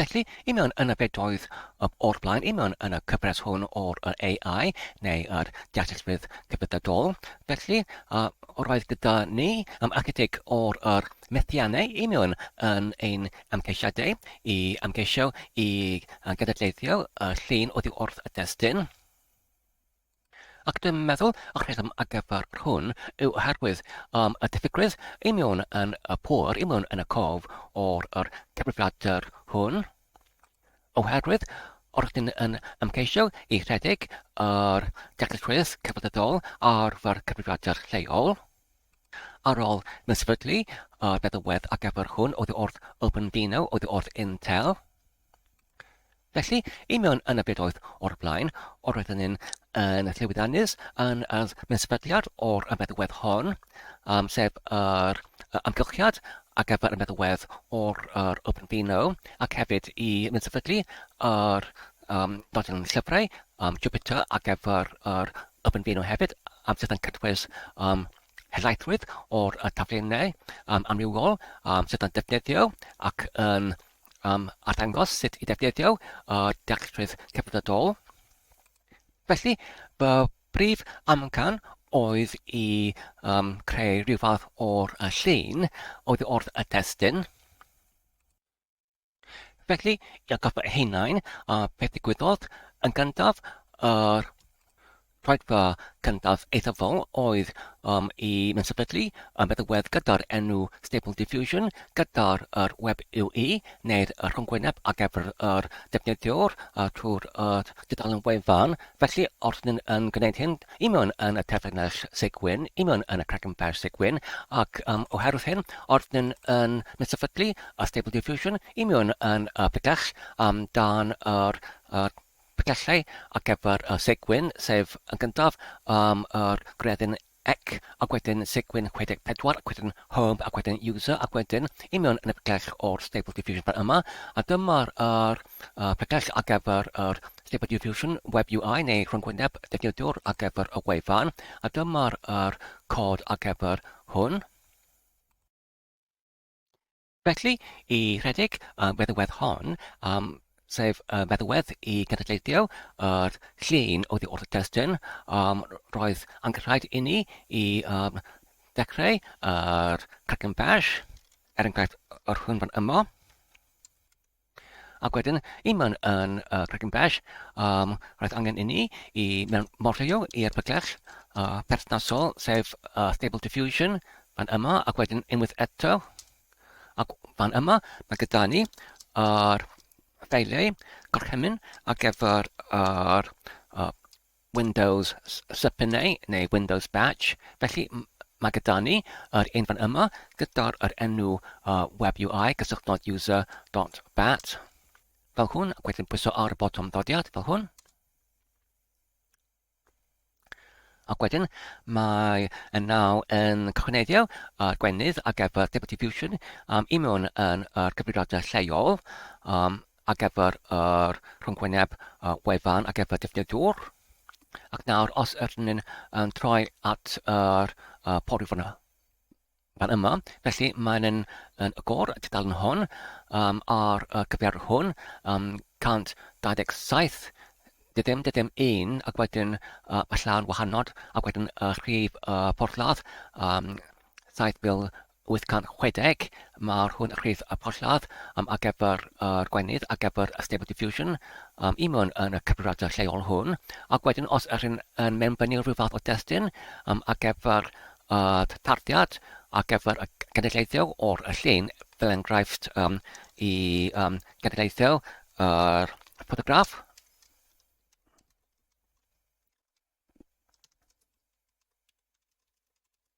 Felly, i mewn yn y bedoedd o'r blaen, i mewn yn y cyfres hwn o'r AI, neu yr deallusrwydd cyfyddadol. Felly, a, roedd gyda ni am ychydig o'r yr methiannau i mewn yn ein amgeisiadau i amgeisio i gydadleithio y llun oddi wrth y destun. Ac dwi'n meddwl y rheswm ar gyfer hwn yw oherwydd um, y diffygrwydd i mewn yn y pôr, i mewn yn y cof o'r yr cyfrifiadur hwn, oherwydd o'r ydyn yn ymgeisio i rhedeg yr dealltwriaeth cyfredol ar fy'r cyfrifiadur lleol, ar ôl mewn sefydlu y feddywedd ar gyfer hwn oedd wrth OpenDino oedd wrth Intel, Felly, i mewn yn y byd oedd o'r blaen, o'r oedd yn un yn y Llywydd Anus, yn y mysbediad o'r ymedwedd hon, um, sef yr amgylchiad ar gyfer y meddwedd o'r yr Open Vino ac hefyd i mynd sefydlu yr um, dodyn llyfrau um, Jupiter ar gyfer yr Open Vino hefyd um, sydd yn cynnwys um, helaethrwydd o'r y taflenau um, amrywiol um, sydd yn defnyddio ac yn am arddangos sut i ddefnyddio y Dealltwriaeth Cydnabydol. Felly, fy brif amcan oedd i um, creu rhyw fath o'r llun oedd wrth y testyn. Felly, i atgoffa hunain, a beth ddigwyddodd, yn gyntaf, yr Ffaithfa cyntaf eithafol oedd um, i sefydlu y meddalwedd gyda'r enw Stable Diffusion gyda'r yr web UE neu'r rhyngwyneb ar gyfer yr defnyddiwr uh, trwy'r yr dudalen wefan. Felly, os ni'n yn gwneud hyn, i mewn yn y terfynell segwyn, i mewn yn y cregyn fer segwyn, ac um, oherwydd hyn, os ni'n yn sefydlu y Stable Diffusion, i mewn yn y pegell um, dan yr, yr Pwllau ar gyfer y Segwyn, sef yn gyntaf am yr gwredyn Ec ac wedyn Segwyn 64 ac wedyn Home ac wedyn User ac wedyn i mewn yn y pwllell o'r Stable Diffusion fan yma a dyma'r yr, uh, pwllell ar gyfer yr Stable Diffusion Web UI neu rhyngwyneb defnyddiwr ar gyfer y wefan a dyma'r yr cod ar gyfer hwn. Felly, i redeg y feddwedd hon, um, sef y feddwedd i gydadleithio yr llun oddi wrth y testun, um, roedd angen rhaid i ni i um, ddechrau yr Kraken Bash, er enghraifft yr hwn fan yma, Ac wedyn, un man yn uh, Cregyn Bell, um, roedd angen inni i mewn morfeio i'r pygell uh, perthnasol, sef uh, Stable Diffusion, fan yma, ac wedyn unwaith eto, ac fan yma, mae gyda ni ar ffeiliau gorchymyn ar gyfer ar uh, Windows Subpoenae neu Windows Batch, felly mae gyda ni yr un fan yma gyda'r yr enw uh, web UI cysylltnod user dot bat fel hwn ac wedyn pwyso ar y botwm ddodiad fel hwn Ac wedyn mae y naw yn cyhoeddio ar gwennydd ar gyfer Deputy Fusion um, i mewn yn yr cyfrifiadau lleol um, ar gyfer yr rhyngwyneb wefan ar gyfer defnyddiwr. Ac nawr, os ydyn ni'n um, troi at yr uh, pori fan, fan yma, felly mae'n yn, yn agor y tudalen hwn um, ar y cyfer hwn um, 127 dydym, dydym un, ac wedyn uh, y llawn wahanol, ac wedyn y rhif uh, porthladd um, 7000 860, Mae'r hwn rhif y porthladd um, ar gyfer yr gwenith, ar gyfer y Stable Diffusion, um, i mewn yn y cyfrifiadur lleol hwn, ac wedyn os yr hyn yn mewnbynnu rhyw fath o destun um, ar gyfer y tarddiad, ar gyfer y genedlaethau o'r llun, fel enghraifft um, i um, genedlaethau yr ffotograff,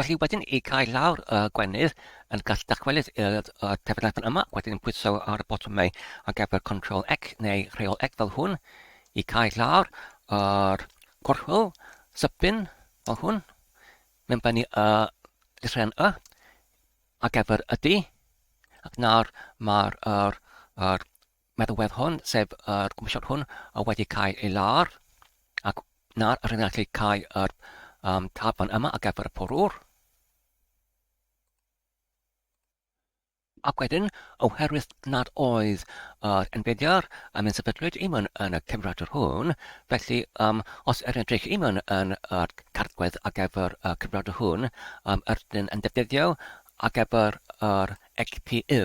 Felly wedyn i cael lawr y gwenith yn gallu dychwelyd i'r uh, tebygrafon yma, wedyn pwyso ar y botwm neu ar gyfer Ctrl X neu Rheol X fel hwn i cael lawr yr gorchwyl sypyn fel hwn mewn bennu y llythren y ar gyfer y D ac nawr mae'r er, er, Mae'r ddeddf hwn, sef yr Comisiwn hwn, wedi cael ei ladd, ac nawr rydyn ni'n gallu cael yr um, tab fan yma ar gyfer y porwr. Ac wedyn, oherwydd nad oedd yr enbediar yn mynd sefydlwyd i mewn yn y cyfrifiadur hwn, felly um, os yr edrych i mewn yn y cartgwedd ar gyfer y cyfrifiadur hwn, um, yr dyn yn defnyddio ar gyfer yr ECPU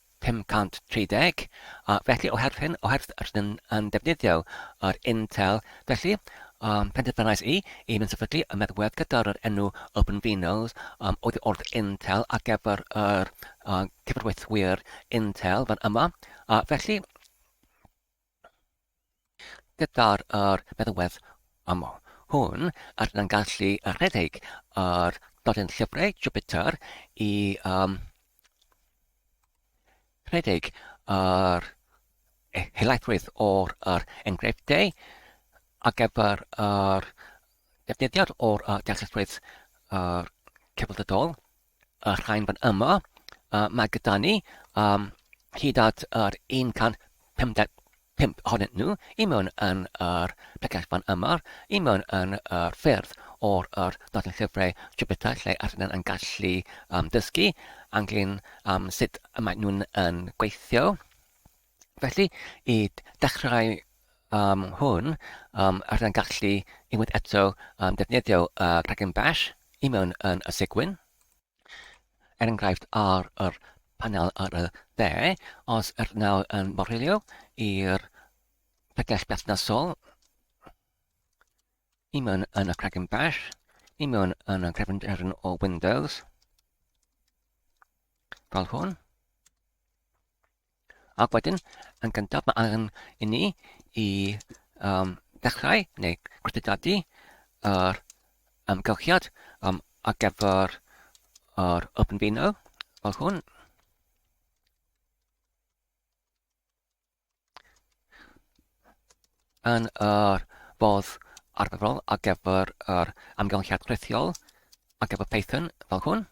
530, a felly oherwydd hyn, oherwydd rydyn yn defnyddio yr Intel, felly um, penderfynais i i fynd sefydlu y meddwedd gyda'r yr enw OpenVinos um, oedd wrth Intel ar gyfer yr uh, cyfarweithwyr Intel fan yma, a felly Gyda'r yr meddalwedd am hwn, rydyn yn gallu rhedeg yr nodyn llyfrau Jupiter i um, rhedeg yr e, helaethrwydd o'r yr enghreifftiau ar gyfer yr defnyddiad o'r uh, deallusrwydd uh, cyfnodol y rhain fan yma, uh, mae gyda ni um, hyd at yr 155 ohonyn nhw i mewn yn yr pregell fan yma, i mewn yn yr ffyrdd o'r yr nodyn llyfrau Jupiter lle arnyn yn gallu um, dysgu anglyn um, sut mae nhw'n yn gweithio. Felly, i ddechrau um, hwn, um, rydyn gallu unwaith eto um, defnyddio uh, rhaglen bash i mewn yn y segwyn. Er enghraifft ar yr panel ar y dde, os yr nawr yn morhilio i'r pegell berthnasol i mewn yn y Kraken Bash, i mewn yn y cefnderyn o Windows, fel hwn. Ac wedyn, yn gyntaf, mae angen i ni i um, ddechrau neu gwrthdadu yr amgylchiad um, ar gyfer yr OpenVINO fel hwn. Yn yr fodd arferol ar gyfer yr amgylchiad rhithiol ar gyfer Python fel hwn.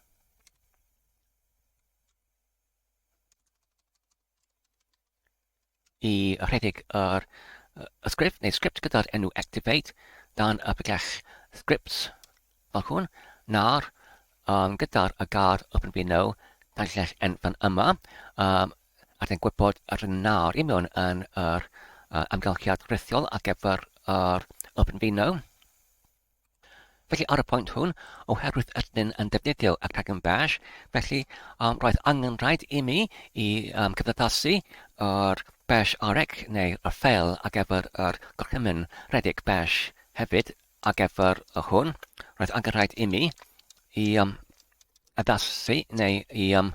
i rhedeg yr sgript neu sgript gyda'r enw activate dan y pegell scripts fel hwn, na'r um, gyda'r y gar open window dan llell enfan yma, um, ac yn gwybod yr na'r i mewn yn yr uh, amgylchiad rithiol ar gyfer yr open window. Felly, ar y pwynt hwn, oherwydd ydyn ni yn defnyddio y cregyn bash, felly um, roedd angen rhaid i mi i um, cyfnoddasu yr bash arec neu y ffeil ar gyfer yr gorchymyn rhedeg bash hefyd ar gyfer y hwn. Roedd angen rhaid i mi i um, addasu neu i um,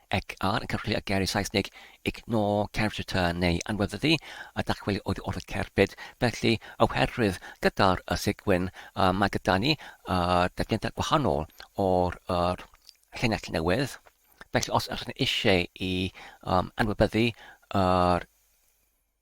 ac ar ymgyrchu â geiriau Saesneg, ignore character turn neu anweddu a dachwel oddi wrth y cerbyd, felly oherwydd gyda'r y Sigwyn y mae gyda ni y defnyddiau gwahanol o'r yr llinell newydd, felly os ydych chi eisiau i um, anwybyddu yr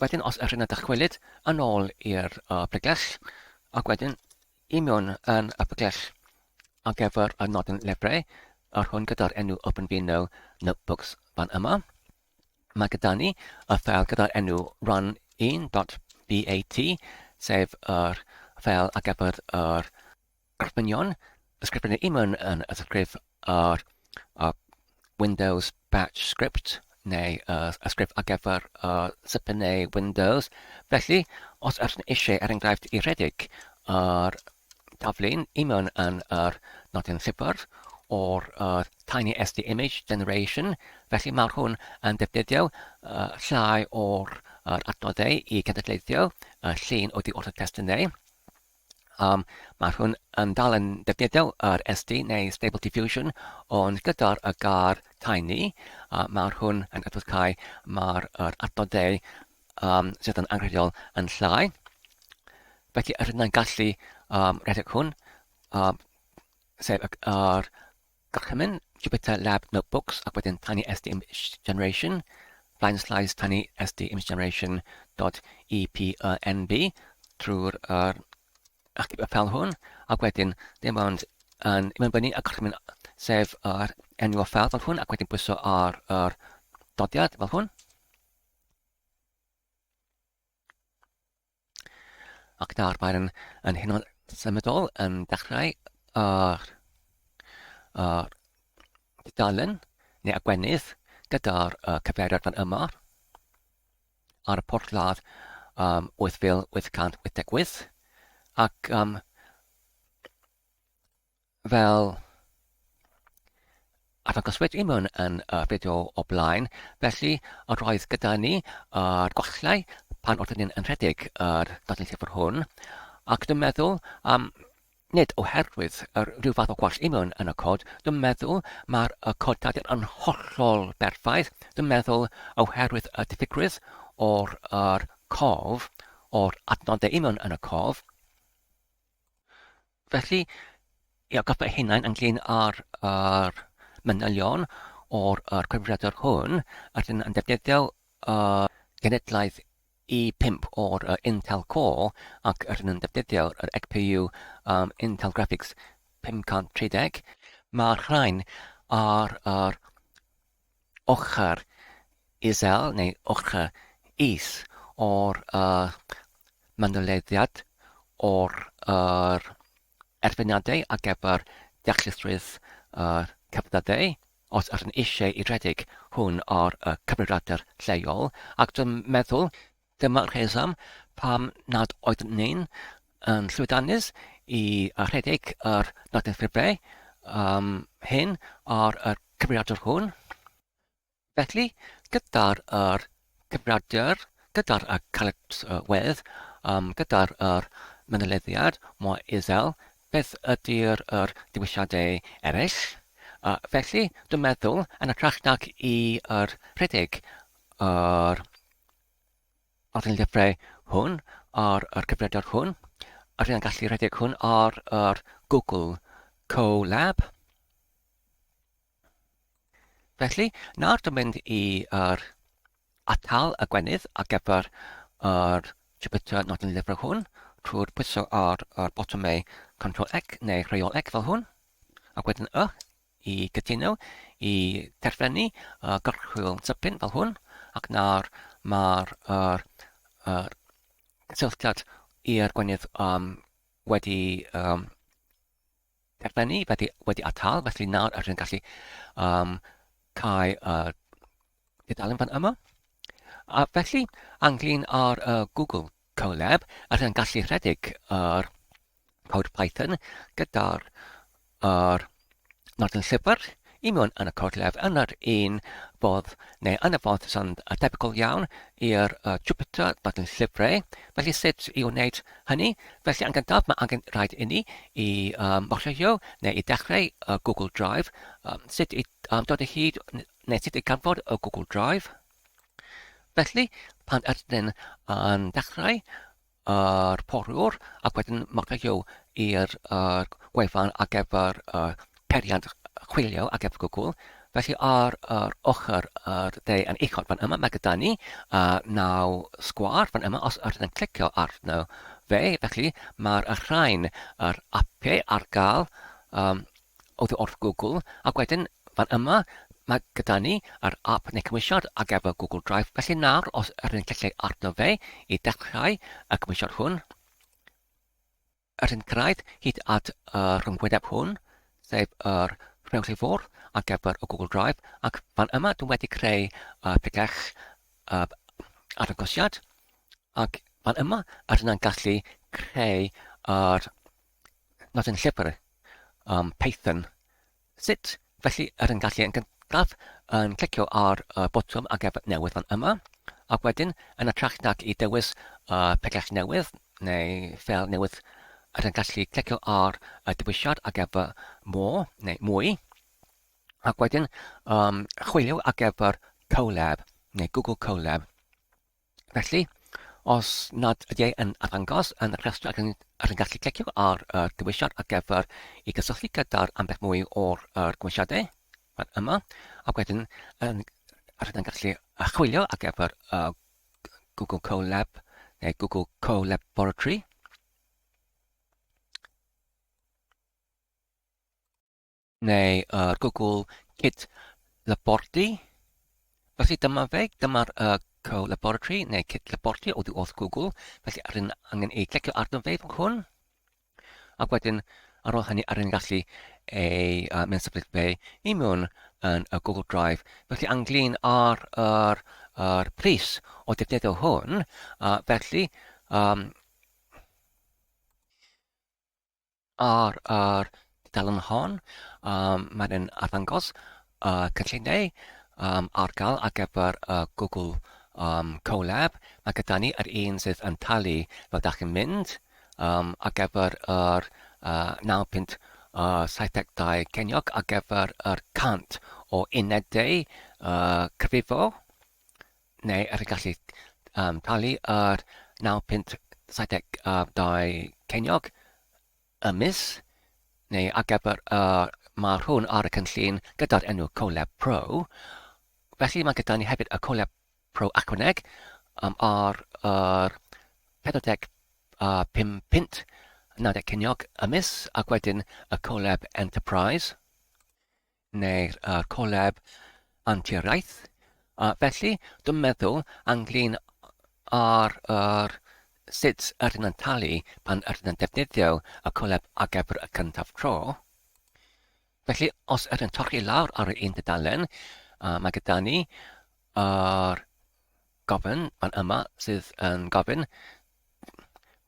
Wedyn os ydych yn dychwelyd yn ôl i'r uh, pregles ac wedyn i mewn yn y pregles ar gyfer y nodyn lebrau yr hwn gyda'r enw Open Vino Notebooks fan yma. Mae gyda ni y ffel gyda'r enw run1.bat sef yr ffel ar gyfer yr Gofynion, ysgrifennu imwn yn y sgrif ar uh, Windows Batch Script neu uh, ysgrif ar gyfer uh, Super neu Windows. Felly, os ydych chi'n eisiau, er enghraifft, i redeg ar taflu'n imwn yn yr nodyn sifr o'r uh, Tiny SD Image Generation, felly mae hwn yn defnyddio uh, llai o'r uh, adnoddau i gynadleiddio uh, llun o'r di o'r testunau. Um, mae hwn yn dal yn defnyddio yr SD neu Stable Diffusion, ond gyda'r y gar tiny, uh, mae hwn yn adfod cael mae'r yr adnoddau um, sydd yn anghredol yn llai. Felly, yr hynna'n gallu um, redeg hwn, um, sef yr Gorchymyn, Jupyter Lab Notebooks ac wedyn Tiny SD Image Generation, Flying Slides Tiny SD Image Generation .epnb trwy'r er, achub y ffel hwn ac wedyn dim ond yn ymwybynnu y gorchymyn sef yr enw o ffel fel hwn ac wedyn pwyso ar yr dodiad fel hwn. Ac nawr mae'n yn hyn o symudol yn dechrau ar, ar dudalen neu agwenydd gyda'r uh, cyfeiriad fan yma ar y porthladd um, 8888 ac um, fel arddangos wedi mewn yn y fideo o blaen. Felly, yr oedd gyda ni yr gollau pan oeddwn ni'n rhedeg yr dodyn llyfr hwn, ac dwi'n meddwl am nid oherwydd yr rhyw fath o gwall union yn y cod, dwi'n meddwl mae'r y cod dydyn yn hollol berffaith, dwi'n meddwl oherwydd y diffygrwydd o'r yr cof, o'r adnodau union yn y cof, Felly, i atgoffa eich hunain ynglyn â'r, ar manylion o'r er cyfrifiadur hwn, ac yn, yn defnyddio uh, genedlaeth i5 o'r uh, Intel Core ac rydyn nhw'n defnyddio yr XPU um, Intel Graphics 530. Mae'r rhain ar yr ochr isel neu ochr is o'r manylediad o'r erfyniadau ar gyfer deallusrwydd cefnfydau, os ydyn eisiau i redeg hwn ar y cyfrifiadur lleol, ac dwi'n meddwl, Dyma'r rheswm pam nad oeddwn ni'n yn llwyddiannus i rhedeg yr nodyn ffiblau um, hyn ar y cyfrifiadur hwn. Felly, gyda'r yr cyfrifiadur, gyda'r y calyps y wedd, um, gyda'r yr mynolediad mor isel, beth ydy'r yr dewisiadau eraill? Uh, felly, dwi'n meddwl, yn y trach nag i yr rhedeg yr ar y llyfrau hwn, ar yr cyfredwr hwn, ar y gallu rhedeg hwn ar yr Google Colab. Felly, nawr dwi'n mynd i yr atal y gwenydd ar gyfer yr Jupyter nodyn llyfrau hwn trwy'r pwyso ar yr botymau Ctrl X neu Rheol X fel hwn, ac wedyn Y. i gytuno i derfynu uh, gorchwyl tipyn fel hwn, ac nawr mae'r er, er, cysylltiad i'r gwenydd um, wedi um, derfynu, wedi, wedi atal, felly nawr ydych chi'n gallu um, cael uh, dudalen fan yma. A felly, anglyn ar uh, Google Colab, ydych chi'n gallu rhedeg yr er, cod Python gyda'r yr Martin Llyfr i mewn yn y cod lef yn yr un fodd neu yn y fodd sy'n debygol iawn i'r uh, Jupyter Martin Llyfrau. Felly sut i wneud hynny? Felly yn gyntaf mae angen rhaid inni i um, mochio neu i dechrau uh, Google Drive. Um, sut i um, dod o hyd neu sut i ganfod y Google Drive. Felly pan ydyn yn dechrau yr poriwr ac wedyn marcio i'r gwefan ar gyfer peiriant chwilio ar gyfer Google. Felly ar yr ochr yr de yn uchod fan yma, mae gyda ni uh, naw sgwar fan yma, os ydyn yn clicio arno fe, felly mae'r rhain, yr apiau ar gael um, Oddi wrth Google, ac wedyn fan yma mae gyda ni yr ap neu cymwysiad ar gyfer Google Drive, felly nawr os yr hyn clicio'i arno fe i dechrau y cymwysiad hwn, yr hyn cyrraedd hyd at y rhyngwyneb hwn, sef yr rhewch i ffwrdd ar gyfer y Google Drive, ac fan yma dwi'n wedi creu y pregell y arddangosiad, ac fan yma yr hyn yn gallu creu yr Nod yn llyfr um, Python. Sut? Felly, er yn gallu yn gyntaf yn clicio ar y botwm a gefn newydd fan yma, ac wedyn yn y trach nag i dewis y pellach newydd neu fel newydd er yn gallu clicio ar y dewisiad a gefn more neu mwy, ac wedyn um, chwilio a gefn Colab neu Google Colab. Felly, os nad ydy e yn arddangos yn y rhestr, rydyn ni'n gallu clicio ar y dewisiad ar gyfer i gysylltu gyda'r ambell mwy o'r er, gwmisiadau, fan yma, ac wedyn yn, rydyn ni'n gallu chwilio ar gyfer y Google Colab neu Google Collaboratory. neu yr Google Kit Labordy. Felly dyma fe, dyma'r uh, co-laboratory neu kit labordy oddi wrth Google, felly rydyn angen ei clicio arno fe fan hwn. Ac wedyn, ar ôl hynny, rydyn gallu ei uh, mynd symud fe i mewn yn y Google Drive. Felly anglyn ar yr, yr pris o defnyddio hwn, uh, felly um, Ar yr dudalen hon yym mae e'n arddangos y cynlluniau yym ar gael ar gyfer y Google yym Colab. Mae gyda ni yr un sydd yn talu fel dach chi'n mynd yym ar gyfer yr uh, 9.72 ceiniog ar gyfer yr 100 o unedau uh, cyfrifo neu ar y gallu um, talu yr 9 punt 72 ceiniog y mis, neu ar gyfer y uh, mae hwn ar y cynllun gyda'r enw Colab Pro. Felly mae gyda ni hefyd y Colab Pro Aquaneg um, ar yr uh, 45 uh, punt 90 ceiniog y mis ac wedyn y Colab Enterprise neu'r uh, collab anturiaeth. Uh, felly, dwi'n meddwl ynglyn ar yr sut yr yn talu pan yr yn defnyddio y collab ar gyfer y cyntaf tro. Felly, os yr yn torri lawr ar un dudalen, uh, mae gyda ni yr gofyn fan yma sydd yn gofyn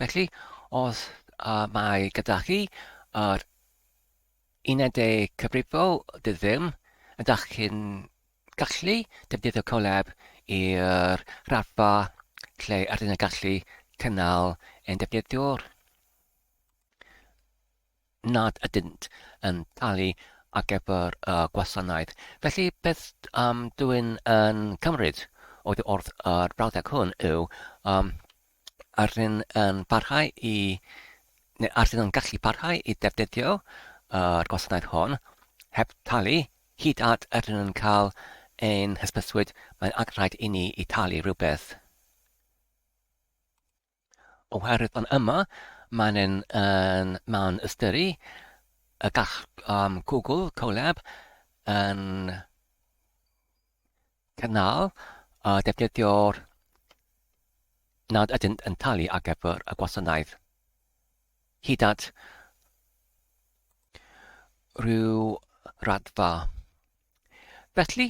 Felly, os uh, mae gyda chi yr unedau cyfrifol, dydw ddim, ydych chi'n gallu defnyddio Colab i'r raddfa lle ydyn nhw'n gallu cynnal ein defnyddiwr. nad ydynt yn talu ar gyfer y gwasanaeth. Felly, beth um, dw i'n yn cymryd oedd wrth yr brawddeg hwn yw um, ar rhywun yn parhau i, neu ar rhywun yn gallu parhau i ddefnyddio yr gwasanaeth hwn heb talu hyd at yr hyn yn cael ein hysbyswyd, mae'n angen rhaid i ni i talu rhywbeth. Oherwydd yn yma, maen yn, yn, maen ystyru y gall um, Google Colab yn cynnal uh, defnyddio'r nad ydynt yn talu ar gyfer y gwasanaeth hyd at rhyw raddfa. Felly,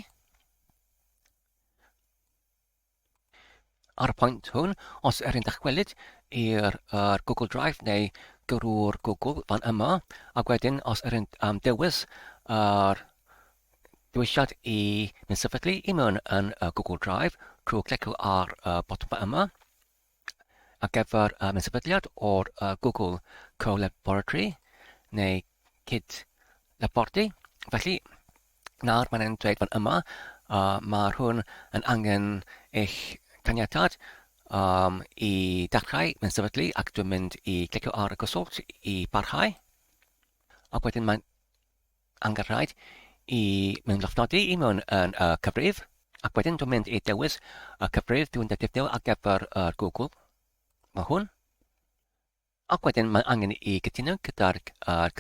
Ar y pwynt hwn, os er yn dychwelyd i'r er Google Drive neu gyrru'r Google fan yma, ac wedyn os er yn um, dewis yr dewisiad i mynd sefydlu i mewn yn uh, Google Drive trwy clicio ar y uh, botwm yma, ar gyfer um, sefydliad o'r uh, Google Co-Laboratory neu Cyd Labordy. Felly, nawr mae'n e'n dweud fan yma, uh, mae hwn yn angen eich caniatad um, i ddechrau mewn sefydlu ac dwi'n mynd i clicio ar y gosod i barhau. Ac wedyn mae'n Anghyfiawnhad i mewngloffnodi i mewn yn y cyfrif, ac wedyn dwi'n mynd i dewis y cyfrif dwi'n defnyddio ar gyfer yr Google. Mae hwn. Ac wedyn mae angen i gytuno gyda'r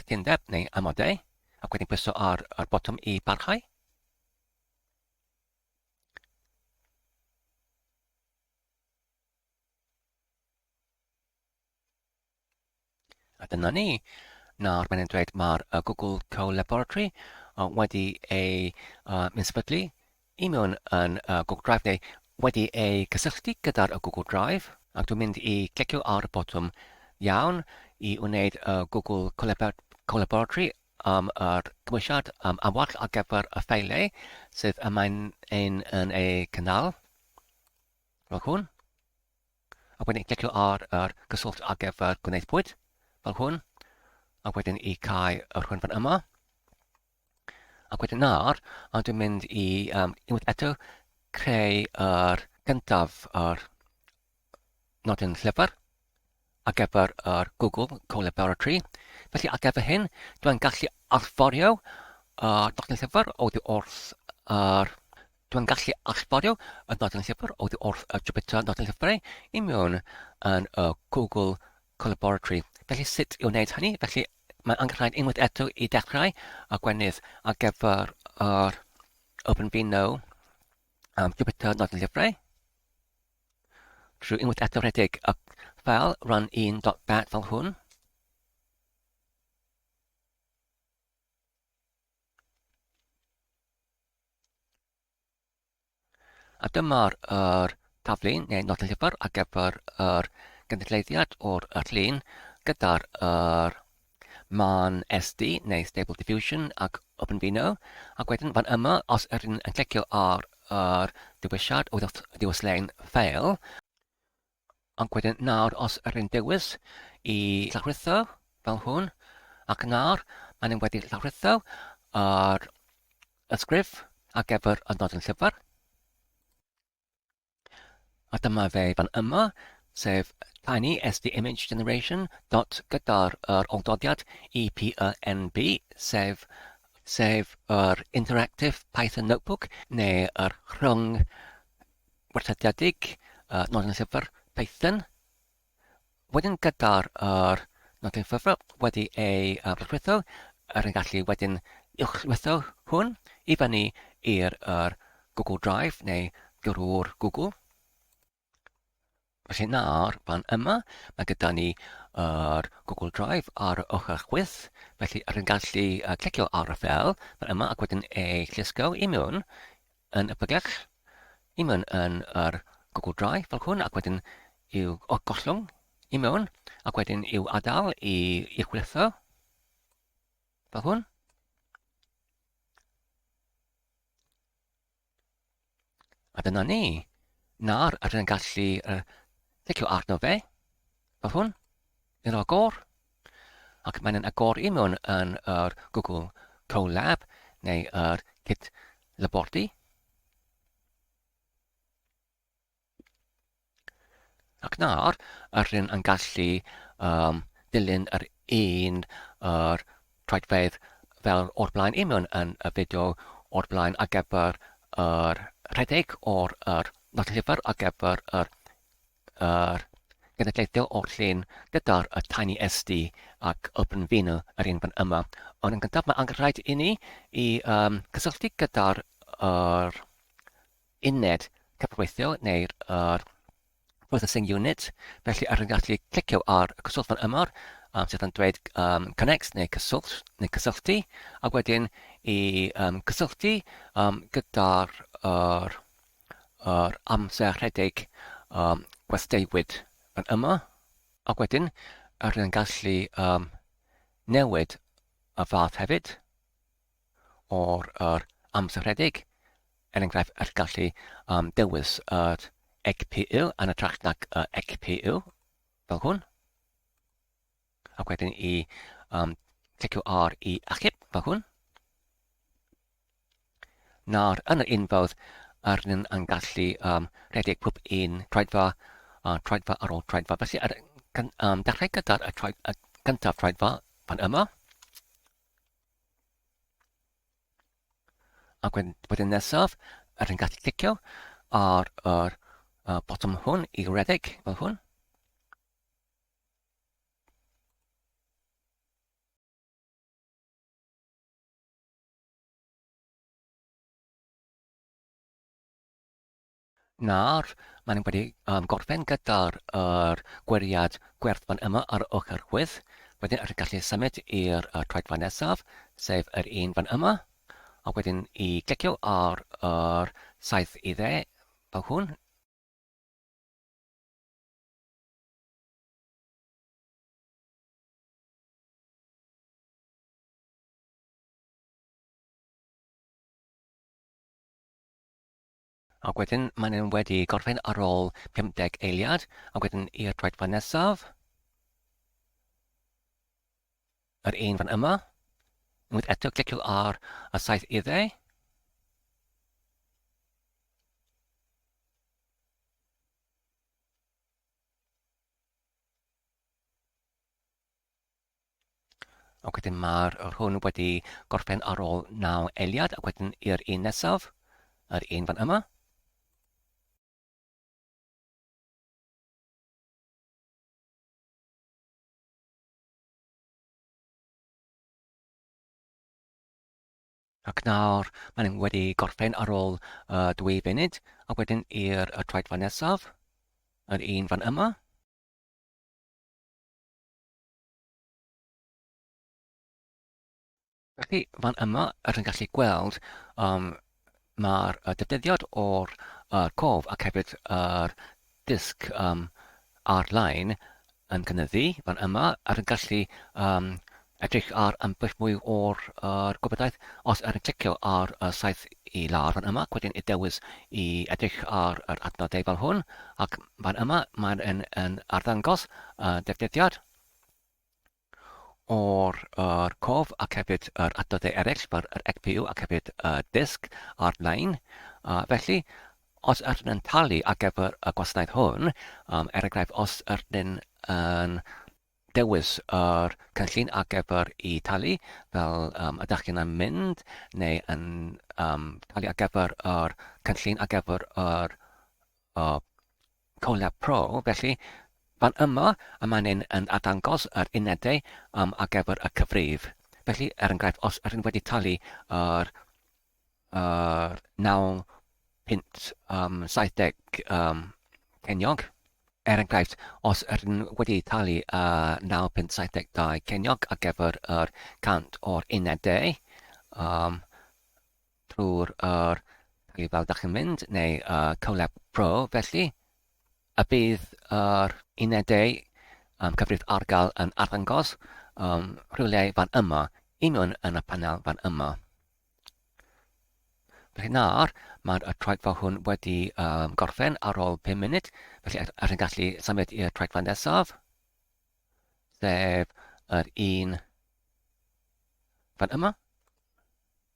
cytundeb neu amodau, ac wedyn pwyso ar y botwm i barhau. A dyna ni. Nawr mae'n dweud mae'r uh, Google Co-Laboratory uh, wedi ei uh, minsefydlu i mewn yn uh, Google Drive neu wedi ei cysylltu gyda'r uh, Google Drive ac dwi'n mynd i clicio ar y botwm iawn i wneud y uh, Google Co-Laboratory am yr cymwysiad am amwall ar gyfer y ffeilau sydd yma'n ein yn ei cynnal. Fel hwn. a wedyn clicio ar yr cyswllt ar gyfer gwneud pwyd, fel hwn, a wedyn i cau yr hwn fan yma. Ac wedyn nawr, a dwi'n mynd i um, unwaith eto creu yr gyntaf yr nodyn llyfr. ar gyfer yr Google Co-Laboratory. Felly ar gyfer hyn, dwi'n gallu allforio yr nodyn llyfr oddi wrth yr Dwi'n gallu allforio y nodyn llyfr oddi wrth y Jupyter nodyn llyfrau i mewn yn y Google Co-Laboratory. Felly sut i wneud hynny? Felly mae'n anghyflaen unwaith eto i dechrau a gwenydd ar gyfer yr OpenVINO um, Jupyter nodyn llyfrau. Rwy'n wedi atgyfredig y ffeil run 1.bat fel hwn. A dyma'r er, taflu neu nod y llyfr ar gyfer yr er, gynulleiddiad o'r er llun gyda'r er, Mae'n SD neu Stable Diffusion ac OpenVINO. Ac wedyn fan yma, os yr yn clicio ar yr dewisiad o ddiwyslein ffeil, ac wedyn nawr os yr yn dewis i llawrlwytho fel hwn, ac nawr maen nhw wedi llawrlwytho yr ysgrif ar gyfer y nodyn llyfr. A dyma fe fan yma, sef tiny SD image generation dot gyda'r yr oldodiad EPENB, sef, sef yr Interactive Python Notebook, neu yr rhwng werthydiedig uh, nod yn llyfr Python. Wedyn gyda'r yr nodyn ffurfio wedi ei brwdfwytho, yr yn gallu wedyn uwchlwytho hwn i fyny i'r yr Google Drive neu drwy'r Google. Felly nawr, fan yma, mae gyda ni yr Google Drive ar y ochr chwith, felly yr yn gallu clicio ar y fel fan yma ac wedyn ei llusgo i mewn yn y pregeth, i mewn yn yr gwgl dry fel hwn, ac wedyn i'w gollwng i mewn, ac wedyn i'w adael i, i chwilitho fel hwn. A dyna ni. Nawr, rydyn yn gallu uh, tecio arno fe, fel hwn. yn agor ac mae'n agor i mewn yn yr Google Colab neu yr Kit Labordy. Ac nawr, yr hyn yn gallu um, dilyn yr un yr traedfedd fel o'r blaen i mewn yn y fideo o'r blaen ar gyfer yr rhedeg o'r yr nod llyfr ar gyfer yr yr genedlaethol o'r llun gyda'r tiny SD ac open vinyl yr un fan yma. Ond yn gyntaf mae angen rhaid i ni i um, cysylltu gyda'r yr uned cyfreithiol neu'r yr processing unit. Felly ar yn gallu clicio ar y cyswllt fan yma um, sydd yn dweud um, connect neu cyswllt neu cysylltu a wedyn i um, cysylltu um, gyda'r yr yr amser rhedeg um, gwesteiwyd yn yma, ac wedyn rydyn yn gallu um, newid y fath hefyd o'r yr amser rhedeg, er enghraifft yr gallu um, dewis yr ECPU yn y trach nag y ECPU, fel hwn. Ac wedyn i um, clicio ar i achub, fel hwn. Nawr, yn yr unfawdd, ar ni'n yn gallu um, rhedeg pob un troedfa, uh, troedfa ar ôl troedfa. Felly, ar, um, dechrau gyda'r y, troed, y gyntaf troedfa fan yma. Ac wedyn, wedyn nesaf, ar ni'n gallu clicio ar yr uh, bottom hwn i redeg fel hwn. Nawr, maen nhw wedi um, gorffen gyda'r er, gweriad gwerthfan yma ar y ochr chwydd. Wedyn ydych gallu symud i'r uh, troedfa nesaf, sef yr un fan yma. A wedyn i glicio ar yr saith i dde, fel hwn. Ac wedyn maen nhw wedi gorffen ar ôl 50 eiliad, ac wedyn i'r troedfa nesaf. Yr un fan yma. Unwaith eto cliciwch ar y saith idde. Ac wedyn mae'r yr hwn wedi gorffen ar ôl 9 eiliad ac wedyn i'r un nesaf, yr un fan yma. Ac nawr, maen nhw wedi gorffen ar ôl uh, dwy funud, a wedyn i'r uh, troedfa nesaf, yr un fan yma. Felly, fan yma, rydyn ni'n gallu gweld um, Mae'r datguddiad o'r cof ac hefyd yr dysg ar-lein yn cynyddu fan yma ac yn gallu edrych ar ambell mwy o'r gwybodaeth os ydych chi'n clicio ar y saeth i lawr fan yma ac wedyn y dewis i edrych ar yr adnodau fel hwn ac fan yma mae'n arddangos y datguddiad o'r yr cof ac hefyd yr adnoddau eraill fel yr ECPU ac hefyd y disg a'r nain. Uh, felly, os yr yn talu ar gyfer y gwasanaeth hwn, um, er enghraifft, os yr yn yn dewis yr cynllun ar gyfer i talu fel um, ydych chi'n yn mynd neu yn um, talu ar gyfer yr cynllun ar gyfer yr uh, Collab Pro, felly, fan yma, a mae'n un yn arddangos yr unedau am ar gyfer y cyfrif. Felly, er enghraifft, os ydyn wedi talu yr, yr 9 punt um, 70 um, ceiniog, er enghraifft, os ydyn wedi talu uh, 9 punt 72 ceiniog ar gyfer yr 100 o'r unedau, um, trwy'r yr peli fel dach chi'n mynd neu y CoLab Pro felly a bydd yr unedau um, cyfrif ar gael yn arddangos um, rhywle fan yma, un nhw'n yn y panel fan yma. Felly nawr, mae'r traigfa hwn wedi um, gorffen ar ôl 5 munud, felly er, er yn gallu symud i'r traigfa nesaf, sef yr un fan yma.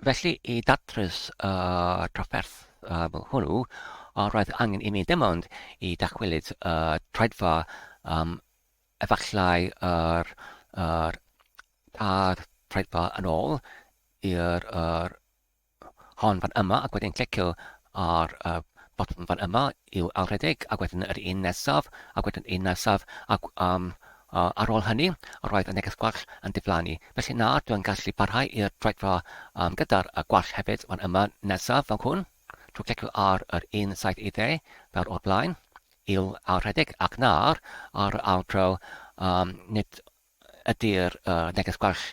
Felly, i ddatrys y trafferth hwnnw, roedd angen imi dim ond i ddychwelyd y troedfa um, efallai yr, yr tair troedfa yn ôl i'r yr hon fan yma ac wedyn clicio ar y botwm fan yma i'w alredeg ac wedyn yr un nesaf ac wedyn un nesaf ac um, uh, ar ôl hynny roedd y neges gwell yn diflannu Felly na, dw i'n gallu parhau i'r troedfa um, gyda'r uh, gwallt hefyd, fan yma, nesaf, fel hwn. Trwy clicio ar yr 170 fel o'r blaen, il a rhedeg, ac nawr ar yr ail dro, um, nid ydy'r uh, neges gwallt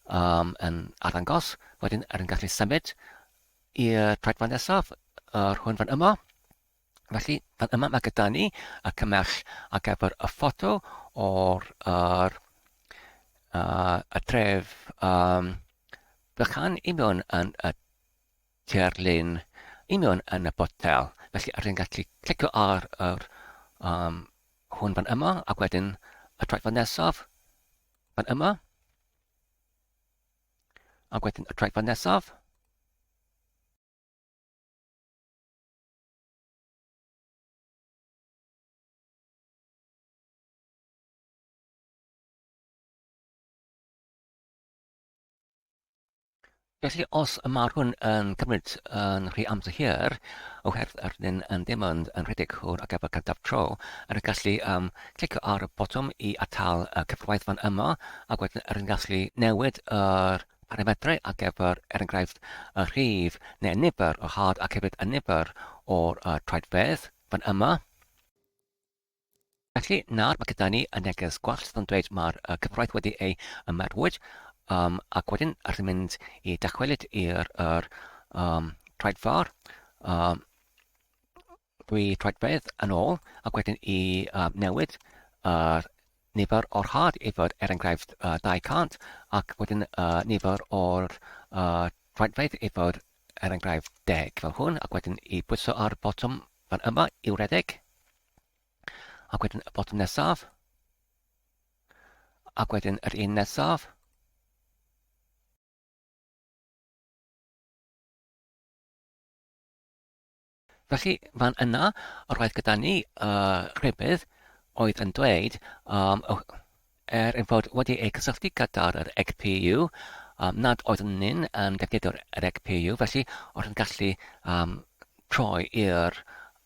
um, yn arddangos. Wedyn, er yn gallu symud i'r troedfa nesaf, yr hwn fan yma. Felly, fan yma mae gyda ni y cymell ar gyfer y ffoto o'r yr, uh, y tref um, bychan i mewn yn y terlun i mewn yn y botel. Felly, rydyn ni'n gallu clicio ar yr, um, hwn fan yma ac wedyn y traethau nesaf fan yma. Ac wedyn y traethau nesaf. Felly, os y mae'r hwn yn cymryd yn rhy amser hir, oherwydd yr ydyn yn ddim yn, yn rhedeg hwyr ar gyfer cadaf tro, yr yn gallu um, clicio ar y botwm i atal y cyfrwaithfan yma, ac wedyn yr yn gallu newid yr Parametrau ar gyfer, er enghraifft, y rhif neu'r nifer o had ac hefyd y nifer o'r troedfedd, fan yma. Felly, nawr mae gyda ni y neges gwell sydd yn dweud mae'r cyfraith wedi ei ymerwyd, um, ac wedyn rydyn mynd i dychwelyd i'r er, um, troedfawr. Um, Dwi troedfedd yn ôl ac wedyn i um, newid yr nifer o'r rhad i fod er enghraifft uh, 200 ac wedyn uh, nifer o'r uh, troedfedd i fod er enghraifft 10 fel hwn ac wedyn i bwyso ar y botwm fan yma i'w redeg ac wedyn y botwm nesaf ac wedyn yr un nesaf Felly, fan yna, roedd gyda ni y rhybudd oedd yn dweud, um, er ein fod wedi eu cysylltu gyda'r EGPU, um, nad oeddwn ni'n um, defnyddio'r EGPU, felly oedd yn gallu um, troi i'r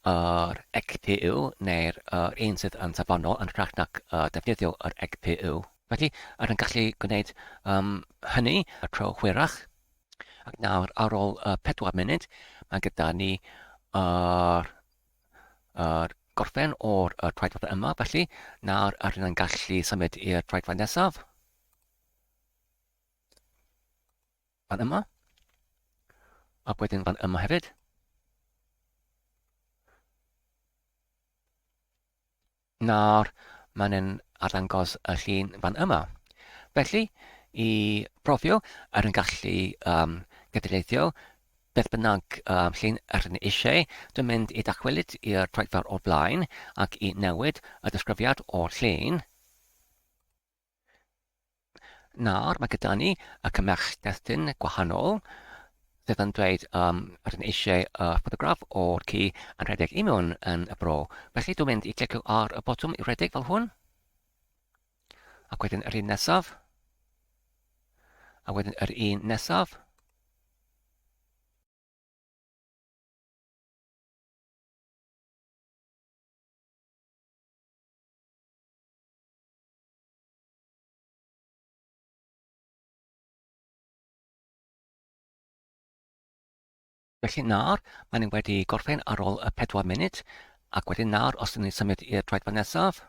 yr EGPU neu'r er un sydd yn safonol yn rhaid nac uh, defnyddio yr EGPU. Felly, oedd yn gallu gwneud um, hynny y tro hwyrach, Ac nawr, ar ôl uh, pedwar munud, mae gyda ni yr uh, gorffen o'r uh, traedfath yma, felly nawr yr hyn yn gallu symud i'r traedfath nesaf. Fan yma. Ac wedyn fan yma hefyd. Nawr, mae'n ein arddangos y llun fan yma. Felly, i brofio ar ein gallu um, gydweithio, beth bynnag um, llun rydyn ni eisiau, dwi'n mynd i dachwelyd i'r troedfawr o flaen ac i newid y disgrifiad o'r llun. Nawr mae gyda ni y cymerch destun gwahanol sydd yn dweud um, rydyn eisiau uh, ffotograff o'r ci yn rhedeg i mewn yn y bro. Felly dwi'n mynd i clicio ar y botwm i redeg fel hwn. Ac wedyn yr un nesaf. A wedyn yr un nesaf. Felly nawr, maen nhw wedi gorffen ar ôl y pedwar munud, ac wedyn nawr, os ydyn ni'n symud i'r droedfa nesaf,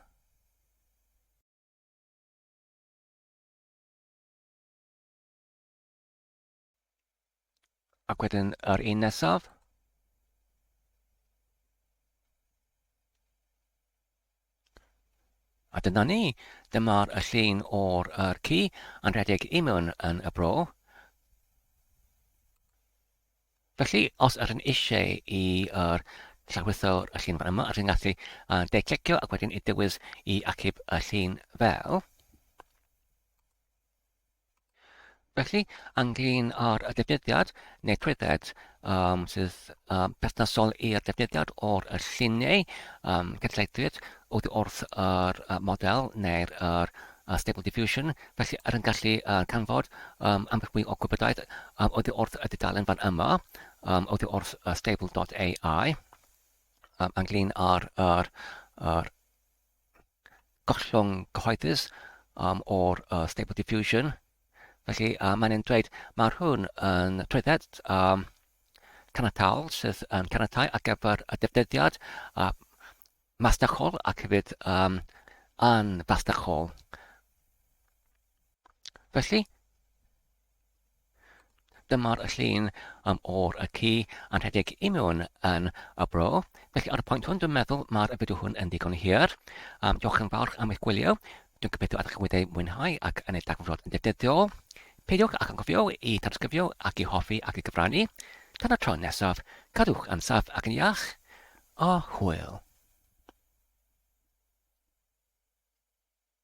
Ac wedyn yr un nesaf. A dyna ni, dyma'r y llun o'r er ci yn rhedeg i mewn yn y bro. Felly, os yr yn eisiau i yr llawysawr y llun fan yma, rydyn gallu uh, deiclicio ac wedyn i dywys i acib y llun fel. Felly, ynglyn â'r defnyddiad neu trwydded um, sydd um, perthnasol i'r defnyddiad o'r lluniau um, cydleithwyd oddi wrth yr uh, model neu'r er, uh, Stable Diffusion, felly ar yn gallu uh, canfod um, ambell mwy o gwybodaeth um, oddi wrth y dudalen fan yma, um, oddi wrth uh, stable.ai, um, ynglyn â'r er, er, gollwng cyhoeddus um, o'r uh, Stable Diffusion. Felly uh, mae'n ein dweud, mae hwn yn trwydded um, caniatol sydd yn caniatau ar gyfer y defnyddiad uh, masnachol ac hefyd um, anfasnachol. Felly, dyma'r llun um, o'r y ci yn rhedeg i mewn yn y bro. Felly ar y pwynt hwn, dwi'n meddwl mae'r fideo hwn yn ddigon hir. Um, diolch yn fawr am eich gwylio. Dwi'n gobeithio ydych wedi ei mwynhau ac yn ei dagfrod yn dedyddiol. Peidiwch ac yn gofio i tanysgrifio ac i hoffi ac i gyfrannu. Tan y tro nesaf, cadwch yn saff ac yn iach. A hwyl.